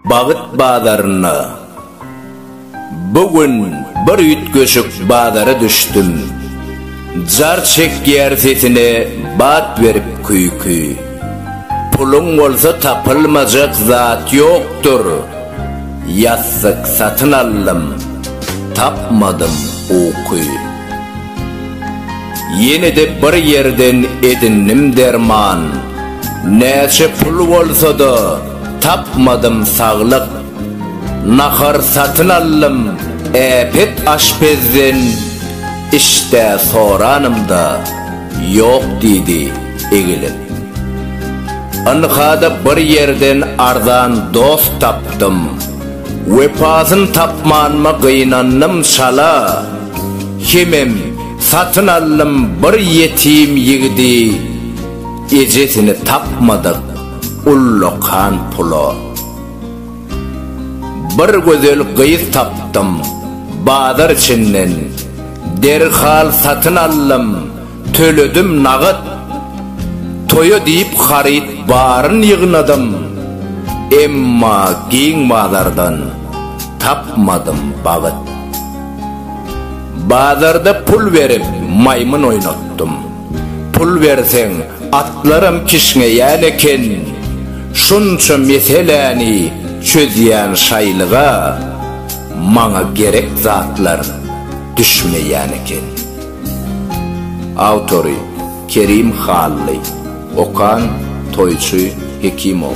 Bagyt bazarynda Bu gün bir üýtgeşik bazara düşdüm. Jar çekýär sesine bat berip küýki. Puluň bolsa tapylmajak zat ýokdur. Ýassyk satyn aldym, tapmadym uky. Ýene-de bir ýerden edindim derman, Näçe pul bolsa-da, tapmadym saglyk. Nahar satyn aldym äpet aşpezden, Işdä soranymda, ýok diýdi egilip. Ynha-da bir ýerden arzan dost tapdym, Wepasyn tapmanyma gynandym çala. Hemem satyn aldym bir ýetim ýigidi Ejesini tapmadyk ullakan pula Bir gözel gyz tapdym bazar içinden Derhal satyn aldym Töledim nagat. Toýa diýip haryt baryn ýygnadym. Emma giň bazardan tapmadym bagyt. Bazarda pul berip maýmyn oýnatdym. Pul berseň atlaram kişňeýän eken. Şunça meseläni çözýän şaýlyga maňa gerek zatlar düşmeýän eken. Awtory, Kerim Hally. Okan, Toýçy Hekimow.